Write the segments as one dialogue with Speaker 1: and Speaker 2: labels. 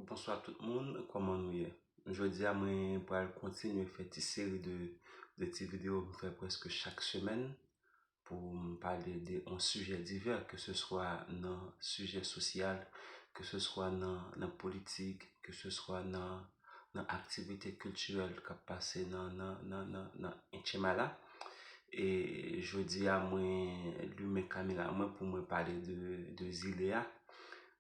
Speaker 1: Bonswa tout moun, kòman nou ye? Jodi a mwen pral kontinye fè ti seri de de ti video m fè prèske chak semèn pou m pale de on sijè divè ke se swa nan sijè sosyal, ke se swa nan nan politik, ke se swa nan nan aktivite kiltirèl k ap pase nan nan nan nan nan Etchyma la. E jodi a mwen limen kamera mwen pou mwen pale de de zile a.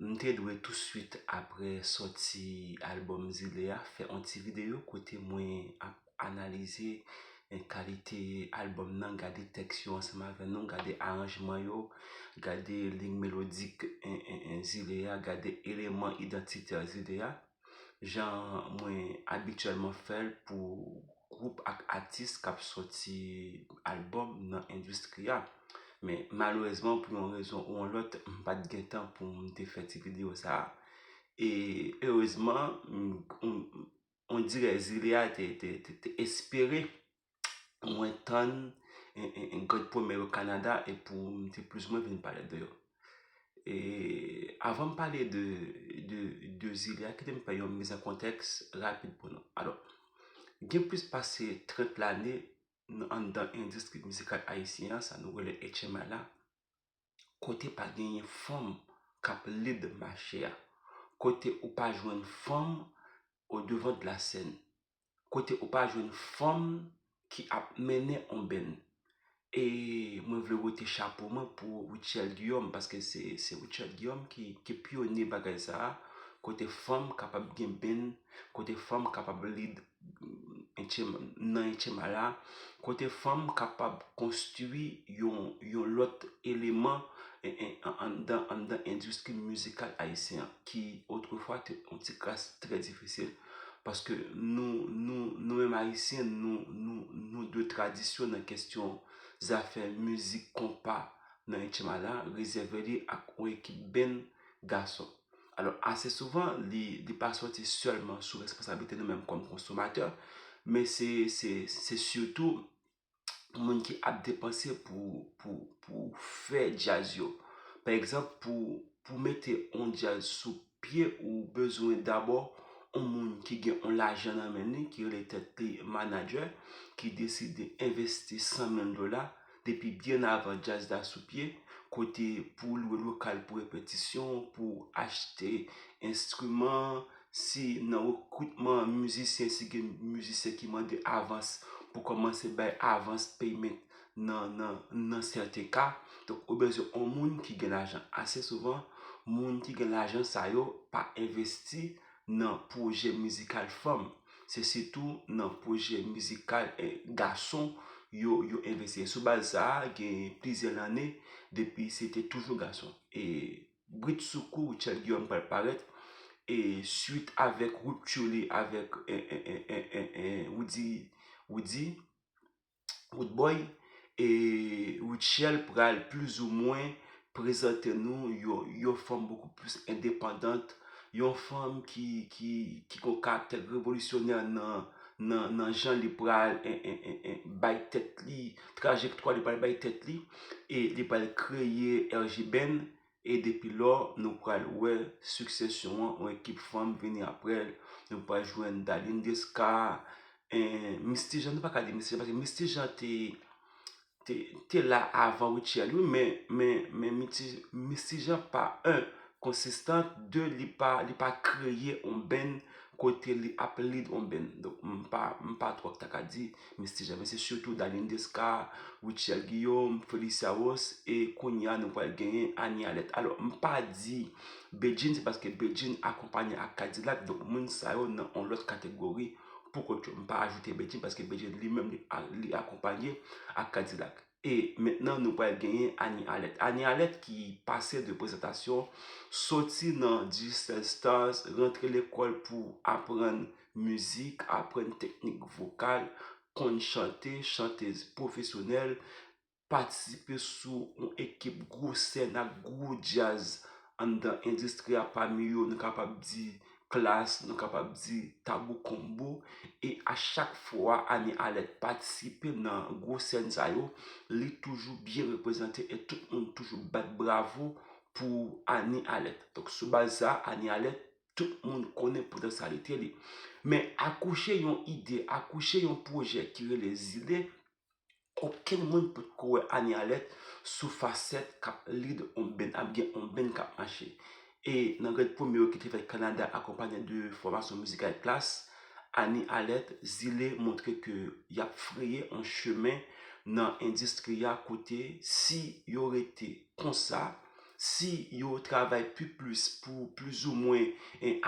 Speaker 1: M te dwe touswit apre sòti albòm Zile a fè on ti videyo kote mwen ap analize kalite albòm nan, gade tèks yo ansanm avè nou, gade aranjman yo, gade liy melodik Zile a, gade eleman idantitè Zile a. jan mwen abityèlman fè l pou gwoup ak atis k ap sòti albòm nan endistri a. Men, malerezman, pou yon rezon ou yon lòt, m pa t gen tan pou m te fè ti videyo sa a. E, erezman, ondirè zile a te espere mwen tann yon gad pwemè yo Kanada e pou m te plis mwen vin pale de yo. E avan m pale de de zile a, kite m fè yon mizan kontèks rapid pou nou. Alò, gen plis pase 30 lane nan anndan endistri mizikal ayisyen an, sa nou rele HMI la, kote pa genyen fanm k ap lid mache a, kote ou pa jwenn fanm odevan de la sèn. kote ou pa jwenn fanm ki ap mennen on benn. E mwen vle wete chapo mwen pou Rutshelle Guillaume, paske se Rutshelle Guillaume ki pyone bagay sa a, kote fanm kapab gen benn, kote fanm kapab lib nan etchema la, kote fanm kapab konstui yon lòt eleman anndan endistri mizikal ayisyen an, ki otrefwa te on ti kras trè difisil. Paske nou nou nou menm ayisyen nou nou nou dwe tradisyon nan kestyon zafè mizik konpa nan Etchyma la rezève li ak yon ekip band gason. Alò ase souvan li li pa sòti sèlman sou responsablite nou menm kòm konsomatè men se se se sitou moun ki ap depanse pou fè djaz yo. Pa egzanp, pou mete yon djaz sou pye, ou bezwen dabò yon moun ki gen yon lajan nan men li, ki rele tèt li manadjè, ki deside envesti 100 mil dola, depi byen avan djaz la sou pye, kote pou lwe lokal pou repetisyon, pou achte enstriman, Si nan rekritman mizisyen si gen mizisyen ki mande avans pou kòmanse bay avans payment nan sèten ka. Donk ou bezwen yon moun ki gen lajan. Ase souvan moun ki gen lajan sa yo pa envesti nan pwojè mizikal fanm. Se sitou nan pwojè mizikal gason yo envesti. Sou baz sa gen plizyè lane depi se te toujou gason. Britsoukou Richard Guillaume pral parèt e swit avèk rupture li avèk Roody Roodboy e Rutshelle pral plis ou mwen prezante nou yon fanm bokou plis endepandant, yon fanm ki gon karaktè revolisyonè nan jan li pral bay tèt li. trajektwa li pral bay tèt li e li pral kreye RJ Band e depi lò nou pral wè siksesyon an yon ekip fanm vini aprè l nou pral jwenn Darline Desca Misty Jean nou pa ka di Misty Jean paske Misty Jean te la avan Rutshelle wi men Misty Jean pa 1 konsistan 2 li pa kreye yon band kote li ap lead yon band m pa twòp ta ka di Mes ti zame se sitou Daniel Desca, Rutshelle Guillaume, Felicia Ross e kounya nou pral genyen Anie Alerte. Alò m pa di Bedjine se paske Bedjine akonpanye ak K-Dilak donk moun sa yo nan on lòt kategori pou kont yo. M pa ajoute Bedjine paske Bedjine li menm li akonpanye ak K-Dilak. E mentnan nou pral genyen Annie Alerte. Annie Alerte ki pase de prezantasyon, soti nan Digicel Stars, rantre lekòl pou aprann mizik, aprann teknik vokal, konn chante, chantez pwofesyonèl, patisipe sou yon ekip gwo sèn ak gwo djaz anndan endistri a pami yo nou kapab di klas, nou kapab di Tabou Combo e a chak fwa Anie Alerte patisipe nan gwo sèn sa yo, li toujou byen reprezante e tout moun toujou bat bravo pou Anie Alerte. Donk sou baz sa, Anie Alerte, tout moun konnen potansyalite li. Men akouche yon ide, akouche yon pwojè ki rele Zile, Okenn moun pot ko wè Anie Alerte sou facette kap lead on band, ap gen on band kap mache. E nan grèd premye yo ki te fèt Canada akonpanye de fòmasyon mizikal Klass, Anie Alerte, Zile montre ke yap freye on chemen nan endistri a kote si yo rete. konsa, si yo travay pi plis pou plizoumwen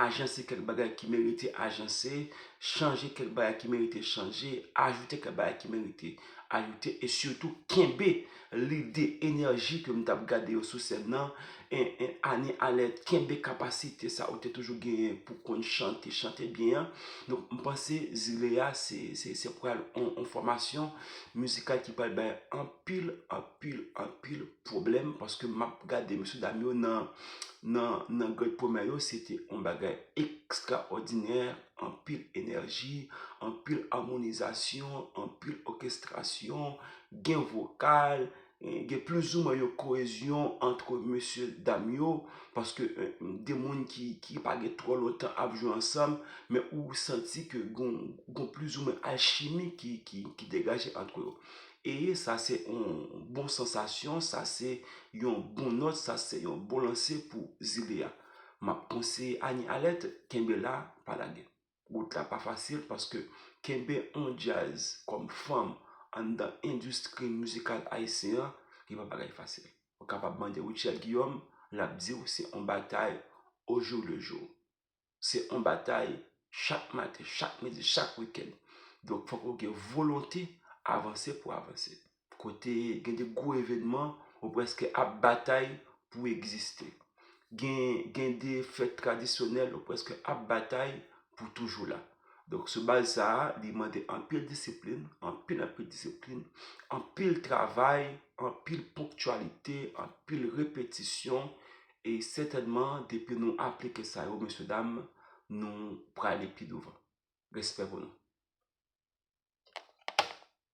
Speaker 1: ajanse kèk bagay ki merite ajanse, chanje kèk bagay ki merite chanje, ajoute kèk bagay ki merite ajoute, e sitou kenbe lide, enèji ke m t ap gade yo sou sèn nan, ane alè, kenbe kapasite sa ou te toujou genyen pou konn chante, chante byen an. Donk, m panse zile a se pral yon fòmasyon mizikal ki pral bay anpil, anpil. anpil anpil pwoblèm paske map gade mesye dam yo nan nan nan gèt pwomè yo se te yon bagay ekstraòdinè anpil enèji anpil amonizasyon anpil òkestrasyon gen vokal gen plizoumwen yon koezyon antre mesye dam yo paske de moun ki ki pa gen twò lontan ap jwe ansanm men ou santi ke gon gon plizoumwen alchimi ki ki degaje antre yo Ee sa se yon bon sansasyon, sa se yon bon nòt, sa se yon bon lanse pou zile a. M ap konseye Annie Alerte kenbe la, pa lage. Wout la pa fasil paske kenbe yon djaz kòm fanm anndan endistri mizikal ayisyen an li pa bagay fasil. Ou kapab mande Rutshelle Guillaume, l ap di w se yon batay ojou le jou. Se yon batay chak maten, chak midi, chak wikèn. Donk fòk ou gen volonte avanse pou avanse. Kote gen de gwo evènman, ou prèske ap batay pou w egziste. Gen de fèt tradisyonèl, ou prèske ap batay pou w toujou la. Donk sou baz sa a, li mande anpil disiplin, anpil anpil disiplin, anpil travay, anpil ponktyalite, anpil repetisyon, E sètènman depi nou aplike sa yo mesye dam nou prale pi douvan. Respè pou nou.